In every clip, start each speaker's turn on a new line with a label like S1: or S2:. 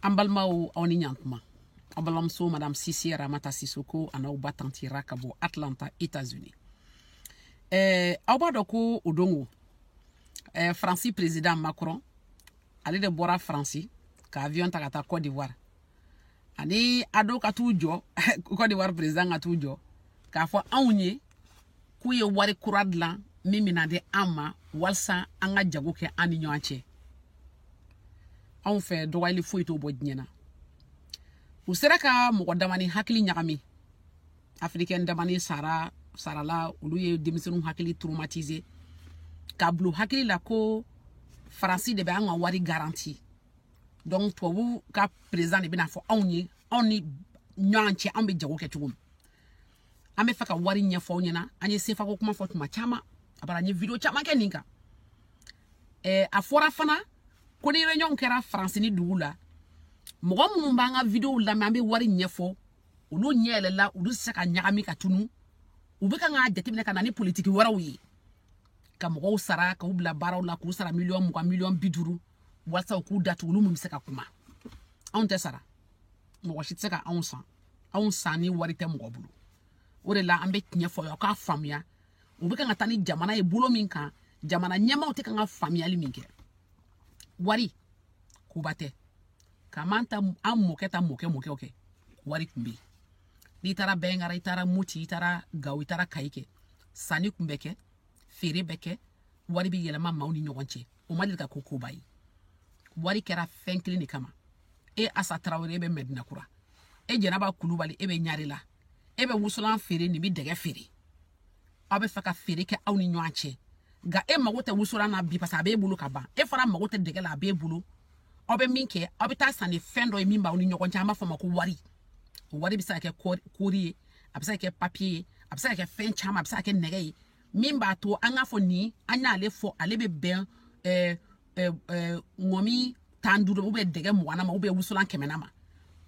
S1: an balimaw aw ni ɲantuma aw balimamuso madame sise ramata sisoko an'aw ba tanti ra ka bɔ atlanta états unis eh, aw b'a dɔn ko o don ko eh, faransi président macron ale de bɔra faransi ka avion ta ka taa cote d'ivoire ani ado ka t'u jɔ cote d'ivoire président ka t'u jɔ k'a fɔ anw ye k'u ye wari kura dilan min bɛna di an ma walisa an ka jago kɛ an ni ɲɔgɔn cɛ anw fɛ dɔgɔyali foyi t'o bɔ diɲɛ na u sera ka mɔgɔ damani hakili ɲagami afirikɛn damani sarala olu ye denmisɛnninw hakili traumatize k'a bil'u hakili la ko faransi de bɛ an ka wari garanti donc tubabu ka président de bɛna fɔ anw ye anw ni ɲɔgɔn cɛ anw bɛ jago kɛ cogo min an bɛ fɛ ka wari ɲɛfɔ aw ɲɛna an ye sefa ko kuma fɔ tuma caman a bara n ye video caman kɛ nin kan ɛɛ a fɔra fana ko ni réunion kɛra faransi ni dugu la mɔgɔ minnu b'an ka videow lamɛn an bɛ wari ɲɛfɔ olu ɲɛ yɛlɛla olu tɛ se ka ɲagami ka tunu u bɛ kan k'a jateminɛ ka na ni politiki wɛrɛw ye ka mɔgɔw sara k'u bila baaraw la k'u sara miliyɔn mugan miliyɔn bi duuru walasa u k'u datugu olu minnu bɛ se ka kuma anw tɛ sara mɔgɔ si tɛ se ka anw san anw sanni wari tɛ mɔgɔ bolo o de la an bɛ tiɲɛ fɔ aw k'a faamuya u bɛ kan ka taa ni jamana ye bolo min kan jamana ɲɛmaaw tɛ kan ka faamuyali min kɛ wari koba tɛ ka m'an ta an mɔkɛ ta mɔkɛ mɔkɛw kɛ wari kun bɛ yen n'i taara bɛnkara i taara moti i taara gawo i taara kayi kɛ sanni kun bɛ kɛ feere bɛ kɛ wari bɛ yɛlɛma maaw ni ɲɔgɔn cɛ o ma deli ka kɛ koba ye wari kɛra fɛn kelen de kama e asa tarawele e bɛ mɛdina kura e jɛnaba kulubali e bɛ ɲarela e bɛ wusulan feere nin bɛ dɛgɛ feere aw bɛ fɛ ka feere kɛ aw ni ɲɔgɔn cɛ nka e mago tɛ wusulan na bi parce que a b'e bolo ka ban e fana mago tɛ dɛgɛ la a b'e bolo aw bɛ min kɛ aw bɛ taa san ni fɛn dɔ ye min b'aw ni ɲɔgɔn cɛ an b'a fɔ o ma ko wari o wari bɛ se ka kɛ kɔɔri ye a bɛ se ka kɛ papiye ye a bɛ se ka kɛ fɛn caman a bɛ se ka kɛ nɛgɛ ye min b'a to an k'a fɔ ni an y'ale fɔ ale bɛ bɛn ɛɛ ɛɛ ŋɔmi tan duuru u bɛ dɛgɛ mugan ma u bɛ wusulan kɛmɛ ma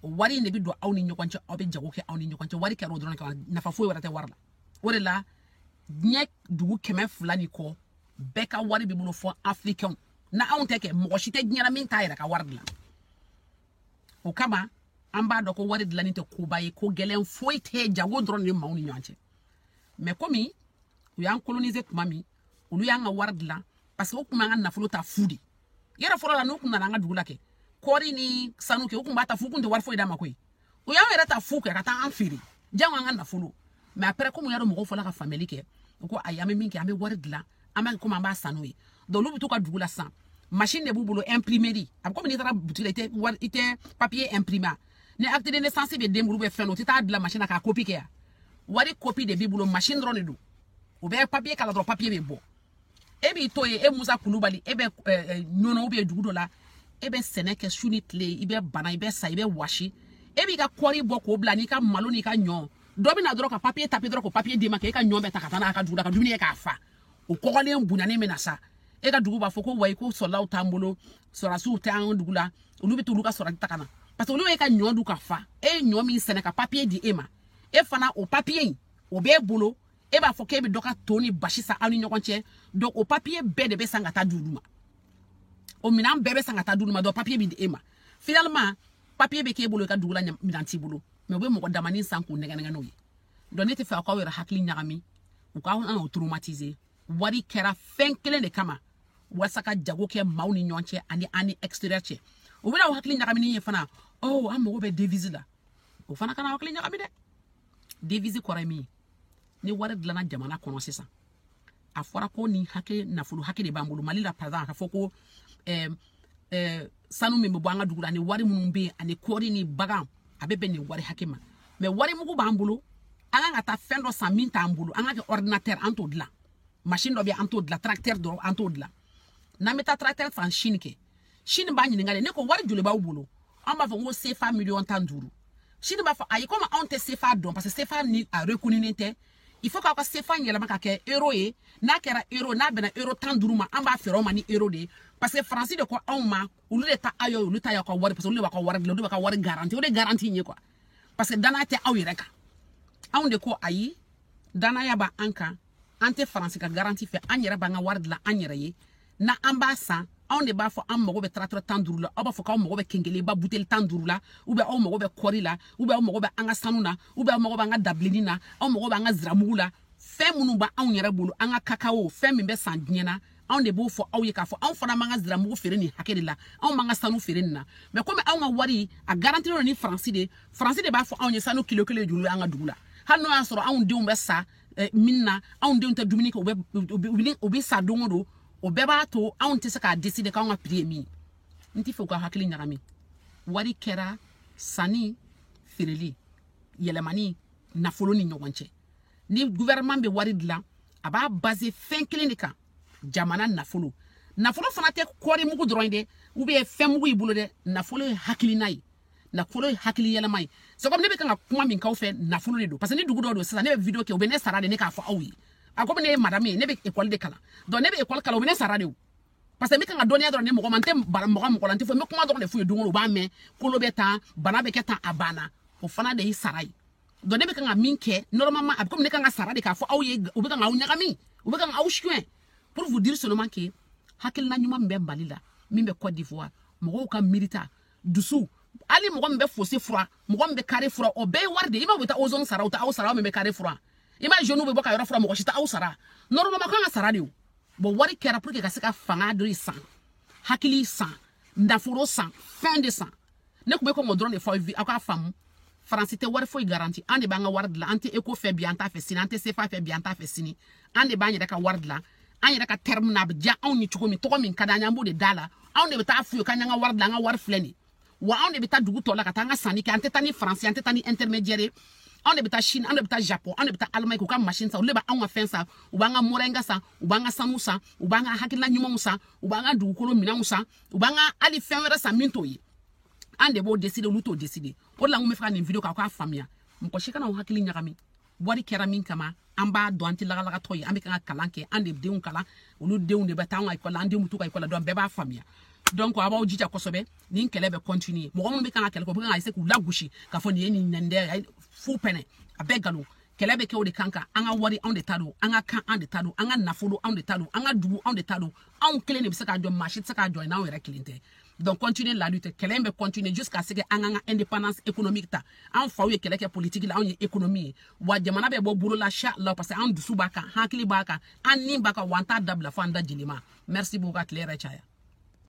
S1: o wari in de bɛ don aw ni ɲɔgɔn cɛ aw bɛ jago kɛ aw ni ɲɔgɔn cɛ wari kɛra o dɔrɔn kan nafa foyi wɛrɛ tɛ wari la o de la diɲɛ dugu kɛmɛ fila ni kɔ bɛɛ ka wari b'u bolo fo afirikɛnw na anw tɛ kɛ mɔgɔ si tɛ diɲɛ na min t'a yɛrɛ ka wari dilan o kama an b'a dɔn ko wari dilanni tɛ koba ye ko gɛlɛn foyi tɛ jago dɔrɔn de bɛ maaw ni ɲɔgɔn cɛ mɛ komi u y'an kolonize tuma min olu y'an ka wari dilan parce que u kun b'an ka nafolo ta fu de yɛrɛ fɔlɔ la n'u kun nana an ka dugu la kɛ kɔɔri ni sanu kɛ u kun b'a ta fu u kun tɛ wari foyi d'a ma koyi u y'an yɛrɛ ta fu kɛ ka taa an feere jango an ka nafolo mɛ après komi u y'a dɔn mɔgɔw fɔla ka faamuyali kɛ u ko ayi an bɛ min kɛ an bɛ wari dilan an b'a komi an b'a san n'o ye donc olu bɛ to u ka dugu la sisan machine de b'u bolo imprimerie a bɛ komi n'i taara butigi la i tɛ wari i tɛ papier imprimer ni acte de naissance bɛ den bolo ou bien fɛn o tɛ taa dilan machine na k'a kopi kɛ yan wari kopi de b'i bolo machine dɔrɔn de don o bɛ papier k'a la dɔrɔn papier bɛ bɔ e b'i to yen e musa kulubali e bɛ ɲɔnɔ ou bien dugu dɔ la e bɛ sɛnɛ kɛ su ni tile i bɛ bana i bɛ sa i bɛ wɔsi e b'i ka kɔɔri bɔ k'o bila n'i ka malo n'i ka ɲɔ dɔ bɛ na dɔrɔn ka papiye taper dɔrɔn k'o papiye d'i ma k'e ka ɲɔ bɛɛ ta ka taa n'a ka dugu la ka dumuni kɛ ka fa o kɔgɔlen bonyanen bɛ na sa e ka dugu b'a fɔ ko wayi ko soldatw t'an bolo sɔrɔdasiw tɛ an dugu la olu bɛ t'olu ka soldat ta ka na parce que olu y'e ka ɲɔ dun ka fa e ye ɲɔ min sɛnɛ ka papiye di e ma e fana o papiye in o b'e bolo e b'a fɔ k'e bɛ dɔ ka to ni basi san aw ni ɲɔgɔn cɛ donc o papiye bɛɛ de bɛ san ka taa di olu ma o minɛn bɛɛ bɛ san ka taa di olu ma donc papiye bɛ di e ma finalement papiye bɛ k'e bolo i ka dugu la minɛn t'i bolo mais u bɛ mɔgɔ damanin san k'u nɛgɛn n'o ye donc ne tɛ fɛ k'aw yɛrɛ hakili ɲagami u kana aw traumatiser wari kɛra fɛn kelen de kama walasa ka jago kɛ maaw ni ɲɔgɔn cɛ ani an ni extérieur cɛ u bɛna aw hakili ɲagami nin ye fana oh an mago bɛ devise la o fana kana aw hakili ɲagami dɛ devise kɔrɔ ye min ye ni wari dilanna jamana kɔnɔ sisan a fɔra ko nin hakɛ nafolo hakɛ de b'an bolo mali la par exemple an k'a fɔ ko eh, eh, sanu min bɛ bɔ an ka dugu la ani wari minnu bɛ yen ani kɔɔri ni bagan a bɛ bɛn nin wari hakɛ ma mais wari mugu b'an bolo an ka kan ka taa fɛn dɔ san min t'an bolo an ka kɛ ordinateur an t'o dilan machine dɔ bɛ an t'o dilan tracteur dɔ an t'o dilan n'an bɛ taa tracteur san chine kɛ chine b'a ɲininka de ne ko wari joli b'aw bolo an b'a fɔ ko sefa miliyɔn tan duuru chine b'a fɔ ayi komi anw tɛ sefa dɔn parce que sefa nin a reconnulen tɛ il faut k'aw ka sefa yɛlɛma ka kɛ euro ye n'a kɛra euro n'a bɛnna euro tan duuru ma an b'a feere aw ma ni euro de ye parce que faransi de ko anw ma olu de ta aw ye olu ta y'aw ka wari parce que olu de b'aw ka wari dilan olu de b'aw ka wari garanti o de garanti ye quoi parce que danaya tɛ aw yɛrɛ kan anw de ko ayi danaya b'an kan an tɛ faransi ka garanti fɛ an yɛrɛ b'an ka wari dilan an yɛrɛ ye na an b'a san anw de b'a fɔ an mago bɛ tracteur tan duuru la aw b'a fɔ k'aw mago bɛ kenkeliba buteli tan duuru la ou bien aw mago bɛ kɔɔri la ou bien aw mago bɛ an ka sanu na ou bien aw mago bɛ an ka dabilenni na aw mago bɛ an ka ziramugu la fɛn minnu bɛ anw yɛrɛ bolo an ka kakao fɛn min bɛ san diɲɛ na anw de b'o fɔ aw ye k'a fɔ anw fana b'an ka ziramugu feere nin hakɛ de la anw b'an ka sanu feere nin na mais komi anw ka wari a garantilen don ni faransi de faransi de b'a fɔ anw ye sanu kilo kelen joli an ka dugu la hali n'o y'a sɔrɔ anw denw bɛ sa eh, mine na anw denw tɛ dumuni kɛ u bɛ u bɛ u bɛ sa don o don o bɛɛ b'a to anw tɛ se k'a décider k'anw ka prix ye min n t'a fɛ u ka hakili ɲagami wari kɛra sanni feereli yɛlɛmani nafolo ni ɲɔgɔn cɛ ni gouvernement bɛ wari dilan a b'a baser fɛn kelen de kan jamana nafolo nafolo fana tɛ kɔɔri mugu dɔrɔn ye dɛ ou bien fɛn mugu y'i bolo dɛ nafolo ye hakilina ye nafolo ye hakili yɛlɛma ye c'est comme ne bɛ kan ka kuma min k'aw fɛ nafolo de don parce que ni dugu dɔ don sisan ne bɛ video kɛ u bɛ ne sara de ne k'a fɔ aw ye a komi ne ye madame ye ne bɛ école de kalan donc ne bɛ école kalan u bɛ ne sara de o parce que n bɛ kan ka dɔnniya dɔrɔn di mɔgɔ ma n tɛ maga mɔgɔ la n tɛ fɔ n bɛ kuma dɔrɔn de f'u ye don o don u b'a mɛn kolo bɛ tan bana bɛ kɛ tan a banna o fana de ye sara ye donc ne bɛ kan ka min kɛ normalement a bɛ komi ne kan ka sara de k'a fɔ aw ye u bɛ kan k'aw ɲagami u bɛ kan k'aw suɲɛ pour vous dire seulement que hakilina ɲuman min bɛ mali la min bɛ côte d'ivoire mɔgɔw ka miirita dusu hali mɔgɔ min bɛ fossé fura mɔgɔ min bɛ carré fura o bɛɛ ye wari de ye i b'a fɔ taa ozone sara u tɛ aw sara min bɛ carré fura i b'a jeunes bɛ bɔ ka yɔrɔ fura mɔgɔ si tɛ aw sara normalement kan ka sara de o bon wari kɛra pour que ka se ka fanga dɔ san hakili san nafolo san fɛn de san ne tun bɛ kɔn k'o dɔrɔn de fɔ aw aw k'a faamu faransi tɛ wari foyi garanti an de b'an ka wari dilan an tɛ eko fɛ bi an t'a fɛ sini an tɛ sefa fɛ bi an t'a fɛ sini an de b'an yɛrɛ ka wari dilan an yɛrɛ ka terme na a bɛ diya anw ye cogo min tɔgɔ min ka d'an ye an b'o de d'a la anw de bɛ taa f'u ye k'an y'an ka wari dilan an ka wari filɛ nin wa anw de bɛ taa dugu tɔw la ka taa an ka sanni kɛ an tɛ taa ni faransi an tɛ taa ni intermédiaire ye anw de bɛ taa chine anw de bɛ taa japon anw de bɛ taa allemagne k'u ka machine san olu de b'anw ka fɛn san u b'an ka moringa san u b'an ka sanu san u b'an ka hakilina ɲumanw san u b'an ka dugukolo minɛnw san u b'an ka hali fɛn wɛrɛ san min t'o ye an de b'o décider olu t'o décider o de la n ko n bɛ fɛ ka nin video kɛ aw k'a faamuya mɔgɔ si kana aw hakili ɲagami wari kɛra min kama an b'a dɔn an tɛ lagalagatɔ ye an bɛ kan ka kalan kɛ an de denw kalan olu denw de bɛ taa an ka ekɔli la an denw bɛ t'u ka ekɔli la donc bɛɛ b'a faamuya donc a b'aw jija kosɛbɛ nin kɛlɛ bɛ continuer mɔgɔ minnu bɛ kan ka kɛlɛ kɛ u bɛ kan ka essayer k'u lagosi k'a fɔ nin ye nin nin dɛ fu pɛnɛ a bɛɛ nkalon kɛlɛ bɛ kɛ o de kan kan an ka wari anw de ta don an ka kan an de ta don an ka nafolo anw de ta don an ka dugu anw de ta don anw kelen de bɛ se k'a jɔ maa si tɛ se k'a jɔ n'anw yɛrɛ kelen tɛ donc continuer la lutte kɛlɛ in bɛ continuer jusqu'à ce que an k'an ka indépendance économique ta an faw ye kɛlɛ kɛ politique la anw ye économie ye wa jamana bɛ bɔ bolo la inchallah parce que an dusu b'a kan hakili b'a kan an ni b'a kan wa an t'a dabila fo an da jeli ma merci beaucoup ka tile hɛrɛ caya